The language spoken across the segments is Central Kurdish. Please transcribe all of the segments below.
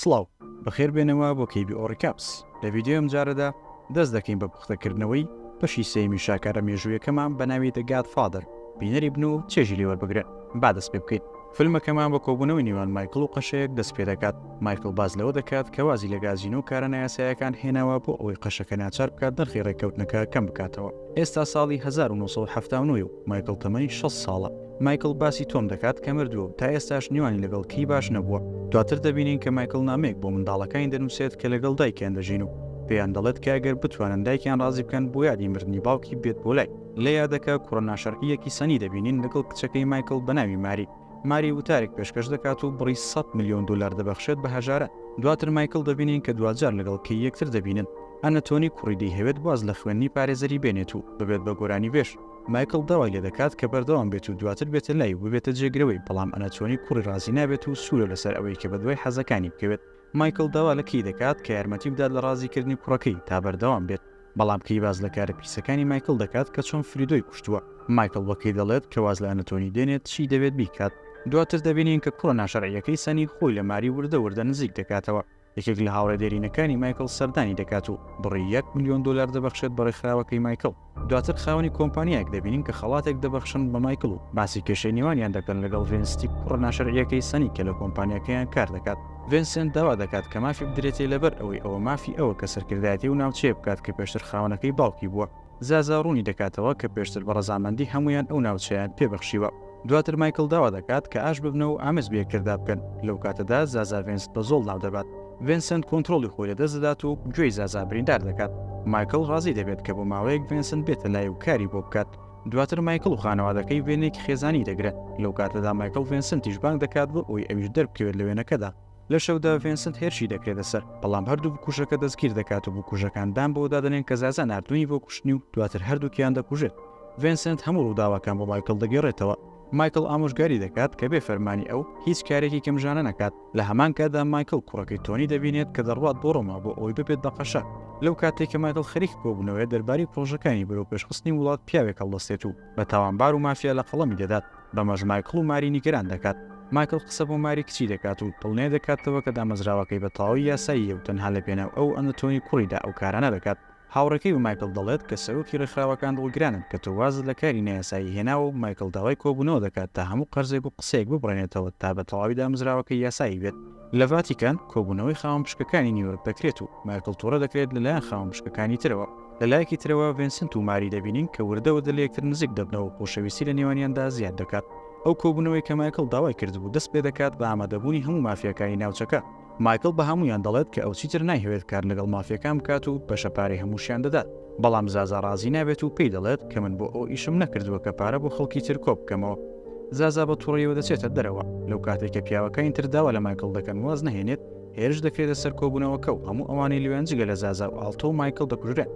سڵاو، بەخێربێنەوە بۆ KBO Recaps. لە ڤیدیۆی ئەمجارەدا دەست دەکەین بە پوختەکردنەوەی بەشی سێیەمی شاکارە مێژوویەکەمان بە ناوی The Godfather، بینەری بن و چێژی لێ وەربگرن. با دەست پێ بکەین. فیلمەکەمان بە کۆبوونەوەی نێوان مایکڵ و قەشەیەک دەست پێ دەکات. مایکڵ باس لەوە دەکات کە وازی لە گازینۆ و کارە نایاسایەکان هێناوە بۆ ئەوەی قەشەکە ناچار بکات نرخی ڕێککەوتنەکە کەم بکاتەوە. ئێستا ساڵی هەزار و نۆ سەد و حەفتا و نۆ ە و مایکڵ تەمەنی شەست ساڵە. مایکڵ باسی تۆم دەکات کە مردووە و تا ئێستاش نێوانی لەگەڵ کری باش نەبووە. دواتر دەبینین کە مایکڵ نامەیەک بۆ منداڵەکانی دەنووسێت کە لەگەڵ دایکیان دەژین و پێیان دەڵێت کە ئەگەر بتوانن دایکیان ڕازی بکەن بۆ یادی مردنی باوکی بێت بۆ لای. لە یادەکە کوڕە ناشەرعییەکی سەنی دەبینین لەگەڵ کچەکەی مایکڵ بە ناوی ماری. ماری وتارێک پێشکەش دەکات و بڕی سەد ملیۆن دۆلار دەبەخشێت بە هەژاران. دواتر مایکڵ دەبینین کە دواجار لەگەڵ کەی یەکتر دەبینن. ئەنەتۆنی کوڕی دەیهەوێت واز لە خوێندنی پارێزەری بێنێت و ببێت بە گۆرانیبێژ. مایکڵ داوای لێدەکات کە بەردەوام بێت و دواتر بێتە لای و ببێتە جێگرەوەی، بەڵام ئەناتۆنی کوڕی ڕازی نابێت و سوورە لەسەر ئەوەی کە بەدوای حەزەکانی بکەوێت. مایکڵ داوا لە کەی دەکات کە یارمەتی بدات لە ڕازیکردنی کوڕەکەی تا بەردەوام بێت، بەڵام کەی باس لە کارە پیسەکانی مایکڵ دەکات کە چۆن فریدۆی کوشتووە. مایکڵ بە کەی دەڵێت کە واز لە ئەناتۆنی دێنێت چی دەبێت بیکات. دواتر دەبینین کە کوڕە ناشەرعییەکەی سەنی خۆی لە ماری وردە وردە نزیک دەکاتەوە. یەکێک لە هاوڕێ دێرینەکانی مایکڵ سەردانی دەکات و بڕی یەک ملیۆن دۆلار دەبەخشێت بە ڕێکخراوەکەی مایکڵ، دواتر خاوەنی کۆمپانیایەک دەبینین کە خەڵاتێک دەبەخشن بە مایکڵ و باسی کێشەی نێوانیان دەکەن لەگەڵ ڤێنستی کوڕە ناشەرعییەکەی سەنی کە لە کۆمپانیاکەیان کار دەکات. ڤێنسێنت داوا دەکات کە مافی بدرێتێ لەبەر ئەوەی ئەوە مافی ئەوە کە سەرکردایەتی ئەو ناوچەیە بکات کە پێشتر خاوەنەکەی باوکی بووە. زازا ڕوونی دەکاتەوە کە پێشتر بە ڕەزامەندی هەموویان ئەو ناوچەیان پێ بەخشیوە، دواتر مایکڵ داوا دەکات کە ئاش ببنە و ئامێز بەیەکتردا بکەن، لەو کاتەدا زازا ڤێنست بە زۆڵ ناو دەبات، ڤێنسنت کۆنترۆڵی خۆی لەدەست دەدات و گوێی زازا بریندار دەکات، مایکڵ ڕازی دەبێت کە بۆ ماوەیەک ڤێنسنت بێتە لای و کاری بۆ بکات، دواتر مایکڵ و خانەوادەکەی وێنەیەکی خێزانیی دەگرن، لەو کاتەدا مایکڵ ڤێنسنتیش بانگ دەکات بۆ ئەوەی ئەویش دەربکەوێت لە وێنەکەدا. لە شەودا ڤێنسنت هێرشی دەکرێتە سەر، بەڵام هەردوو بکوژەکە دەستگیر دەکات و بکوژەکان دان بەوە دادەنێن کە زازا ناردوونی بۆ کوشتنی و دواتر هەردووکیان دەکوژێت. ڤێنسنت هەموو ڕووداوەکان بۆ مایکڵ دەگێڕێتەوە. مایکڵ ئامۆژگاری دەکات کە بێ فەرمانی ئەو، هیچ کارێکی گەمژانە نەکات. لە هەمان کاتدا مایکڵ کوڕەکەی تۆنی دەبینێت کە دەڕوات بۆ ڕۆما بۆ ئەوەی ببێت بە قەشە. لەو کاتەی کە مایکڵ خەریکی کۆبوونەوەیە دەربارەی پڕۆژەکانی بەرەو پێشخستنی وڵات پیاوێک هەڵدەستێت و، بە تاوانبار و مافیا لە قەڵەمی دەدات، بەمەش مایکڵ و ماری نیگەران دەکات. مایکڵ قسە بۆ ماری کچی دەکات و دڵنیا دەکاتەوە کە دامەزراوەکەی بە تەواوی یاساییە و تەنها لە پێناو ئەو و ئەنتۆنی کوڕیدا ئەو کارانە دەکات. هاوڕێکەی بە مایکڵ دەڵێت کە سەرۆکی ڕێکخراوەکان دڵگرانن کە تۆ وازت لە کاری نایاسایی هێناوە و مایکڵ داوای کۆبوونەوە دەکات تا هەموو قەرزێک و قسەیەک ببڕێنێتەوە تا بە تەواوی دامەزراوەکەی یاسایی بێت. لە ڤاتیکان، کۆبوونەوەی خاوەن پشکەکانی نیویۆرک دەکرێت و مایکڵ تووڕە دەکرێت لەلایەن خاوەن پشکەکانی ترەوە. لە لایەکی ترەوە ڤێنسنت و ماری دەبینین کە وردە وردە لە یەکتر نزیک دەبنەوە و خۆشەویستی لە نێوانیاندا زیاد دەکات. ئەو کۆبوونەوەی کە مایکڵ داوای کردبوو دەست پێ دەکات بە ئامادەبوونی هەموو مافیاکانی ناوچەکە. مایکڵ بە هەموویان دەڵێت کە ئەو چیتر نایهەوێت کار لەگەڵ مافیاکان بکات و بەشە پارەی هەمووشیان دەدات. بەڵام زازا ڕازی نابێت و پێی دەڵێت کە من بۆ ئەو ئیشم نەکردووە کە پارە بۆ خەڵکی تر کۆ بکەمەوە. زازا بە توڕەیەوە دەچێتە دەرەوە. لەو کاتەی کە پیاوەکانی تر داوا لە مایکڵ دەکەن واز نەهێنێت، هێرش دەکرێتە سەر کۆبوونەوەکە و هەموو ئەوانەی لەوێن جگە لە زازا و ئاڵتۆ و مایکڵ دەکوژرێن.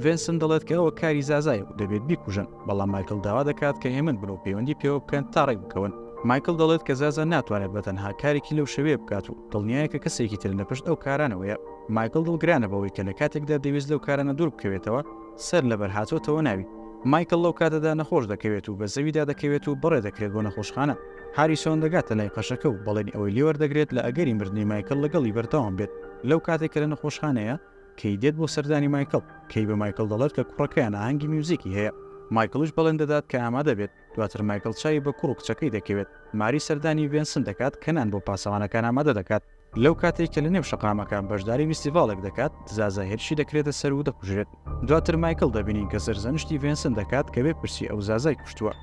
ڤێنسن دەڵێت کە ئەوە کاری زازایە و دەبێت بیکوژن، بەڵام مایکڵ داوا دەکات کە هێمن بن و پەیوەندی پێوە بکەن تا ڕێکبکەون. مایکڵ دەڵێت کە زازا ناتوانێت بە تەنها کارێکی لەو شێوەیە بکات و دڵنیایە کە کەسێکی تر لە پشت ئەو کارانەوەیە. مایکڵ دڵگرانە بەوەی کە لە کاتێکدا دەویست لەو کارانە دوور بکەوێتەوە، سەر لەبەر هاتۆتەوە ناوی. مایکڵ لەو کاتەدا نەخۆش دەکەوێت و بە زەویدا دەکەوێت و بەڕێ دەکرێت بۆ نەخۆشخانە. هاریسۆن دەگاتە لای قەشەکە و بەڵێنی ئەوەی لێ وەردەگرێت لە ئەگەری مردنی مایکڵ لەگەڵی بەردەوام بێت، لەو کاتەی کە لە نەخۆشخانەیە، کەی دێت بۆ سەردانی مایکڵ، کەی بە مایکڵ دەڵێت کە کوڕەکەیان ئاهەنگی میوزیکی هەیە، مایکڵیش بەڵێن دەدات کە ئامادە بێت، دواتر مایکڵ چاوی بە کوڕ و کچەکەی دەکەوێت، ماری سەردانی ڤێنسن دەکات کە نان بۆ پاسەوانەکان ئامادە دەکات. لەو کاتەی کە لەنێو شەقامەکان بەشداری ویستیڤاڵێک دەکات، زازا هێرشی دەکرێتە سەر و دەکوژرێت. دواتر مایکڵ دەبینین کە سەرزەنشتی ڤێنسن دەکات کە بپرسی ئەو زازای کوشتووە.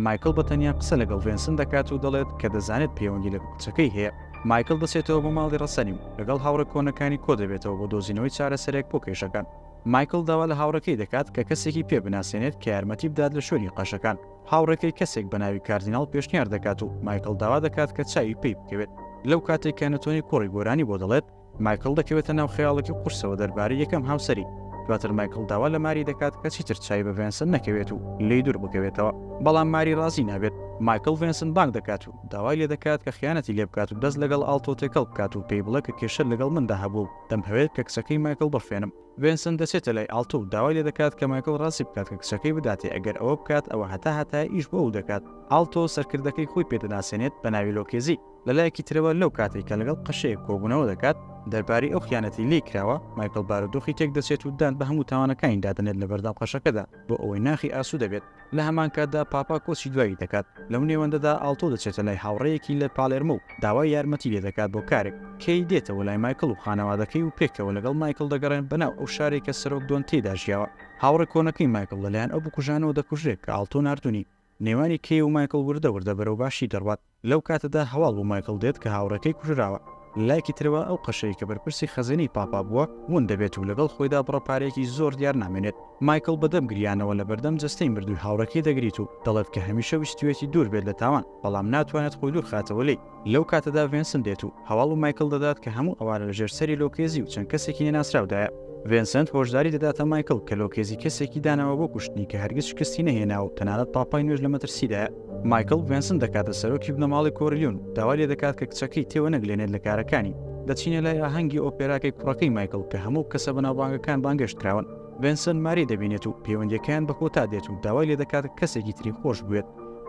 مایکڵ بە تەنیا قسە لەگەڵ ڤێنسن دەکات و دەڵێت کە دەزانێت پەیوەندی لەگەڵ کچەکەی هەیە. مایکڵ دەچێتەوە بۆ ماڵی ڕەسەلی و لەگەڵ هاوڕێ کۆنەکانی کۆدەبێتەوە بۆ دۆزینەوەی چارەسەرێک بۆ کێشەکان. مایکڵ داوا لە هاوڕێکەی دەکات کە کەسێکی پێ بناسێنێت کە یارمەتی بدات لە شوێنی قەشەکان. هاوڕێکەی کەسێک بە ناوی کاردیناڵ پێشنیار دەکات و مایکڵ داوا دەکات کە چاوی پێی بکەوێت. لەو کاتەی کە نتۆنی کوڕی گۆرانی بۆ دەڵێت، مایکڵ دەکەوێتە ناو خەیاڵێکی قورسەوە دەربارەی یەکەم هاوسەری. دواتر مایکڵ داوا لە ماری دەکات کە چیتر چاوی بە ڤێنسن نەکەوێت و لێی دوور بکەوێتەوە. بەڵام ماری ڕازی نابێت. مایکڵ ڤێنسن بانگ دەکات و داوای لێ دەکات کە خیانەتی لێ بکات و دەست لەگەڵ ئاڵتۆ تێکەڵ بکات و پێی بڵێ کە کێشەت لەگەڵ مندا هەبووە و دەمهەوێت کە کچەکەی مایکڵ بڕفێنم. ڤێنسن دەچێتە لای ئاڵتۆ و داوای لێدەکات کە مایکڵ ڕازی بکات کە کچەکەی بداتێ ئەگەر ئەوە بکات ئەوە هەتا هەتایە ئیش بۆ ئەو دەکات ئاڵتۆ سەرکردەکەی خۆی پێ دەناسێنێت بە ناوی لۆکێزی لەلایەکی ترەوە لەو کاتەی کە لەگەڵ قەشەیەک کۆبوونەوە دەکات دەربارەی ئەو خیانەتەی لێی کراوە مایکڵ بارودۆخی تێک دەچێت و دان بە هەموو تاوانەکانی دادەنێت لەبەردەم قەشەکەدا بۆ ئەوەی ناخی ئاسوودە بێت لە هەمان کاتدا پاپا کۆچی دوایی دەکات، لەو نێوەندەدا ئاڵتۆ دەچێتە لای هاوڕێیەکی لە پالێرمۆ و داوای یارمەتی لێ دەکات بۆ کارێک، کێی دێتەوە لای مایکڵ و خانەوادەکەی و پێکەوە لەگەڵ مایکڵ دەگەڕێن بە ناو ئەو شارەی کە سەرۆک دۆن تێیدا ژیاوە، هاوڕێ کۆنەکەی مایکڵ لەلایەن ئەو بکوژانەوە دەکوژرێت کە ئاڵتۆ ناردونی، نێوانی کێی و مایکڵ وردە وردە بەرەو باشی دەڕوات. لەو کاتەدا هەواڵ بۆ مایکڵ دێت کە هاوڕێکەی کوژراوە. لە لایەکی ترەوە ئەو قەشەی کە بەرپرسی خەزێنەی پاپا بووە، ون دەبێت و لەگەڵ خۆیدا بڕە پارەیەکی زۆر دیار نامێنێت. مایکڵ بە دەم گریانەوە لە بەردەم جەستەی مردووی هاوڕێکەی دەگریت و دەڵێت کە هەمیشە ویستویەتی دوور بێت لە تاوان، بەڵام ناتوانێت خۆی دوور خاتەوە لێی. لەو کاتەدا ڤێنسن دێت و هەواڵ بۆ مایکڵ دەدات کە هەموو ئەوانە لە ژێر سەری لۆکێزی و چەند کەسێکی نەناسراودایە. ڤێنسنت هۆشداری دەداتە مایکڵ کە لۆکێزی کەسێکی داناوە بۆ کوشتنی کە هەرگیز شکستی نەهێناوە و تەنانەت پاپای نوێش لە مەترسیدایە. مایکڵ ڤێنسن دەکاتە سەرۆکی بنەماڵەی کۆرلیۆن و داوای لێ دەکات کە کچەکەی تێوەنەگلێنێت لە کارەکانی. دەچینە لای ئاهەنگی ئۆپێراکەی کوڕەکەی مایکڵ کە هەموو کەسە بەناوبانگەکان بانگێشت کراون. ڤێنسن ماری دەبینێت و پەیوەندییەکەیان بە کۆتا دێت و داوای لێ دەکات کەسێکی تری خۆش بوێت.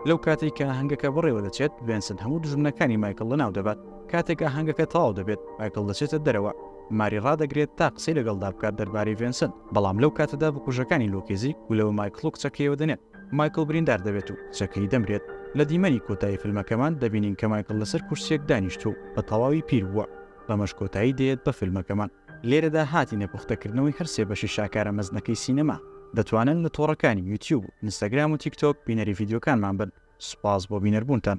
لەو کاتەی کە ئاهەنگەکە بەڕێوە دەچێت، ڤێنسن هەموو دوژمنەکانی مایکڵ لەناو دەبات. کاتێک ئاهەنگەکە تەواو دەبێت، مایکڵ دەچێتە دەرەوە. ماری ڕادەگرێت تا قسەی لەگەڵدا بکات دەربارەی ڤێنسن، بەڵام لەو کاتەدا بکوژەکانی لۆکێزی گولە بە مایکڵ و کچەکەیەوە دەنێن. مایکڵ بریندار دەبێت و کچەکەی دەمرێت. لە دیمەنی کۆتایی فیلمەکەمان دەبینین کە مایکڵ لەسەر کورسیەک دانیشتووە و بە تەواوی پیر بووە. بەمەش کۆتایی دێت بە فیلمەکەمان. لێرەدا هاتینە پوختەکردنەوەی هەر سێ بەشی شاکارە مەزنەکەی سینەما. دەتوانن لە تۆڕەکانی یوتیوب و ئینستاگرام و تیکتۆک بینەری ڤیدیۆکانمان بن. سوپاس بۆ بینەربوونتان.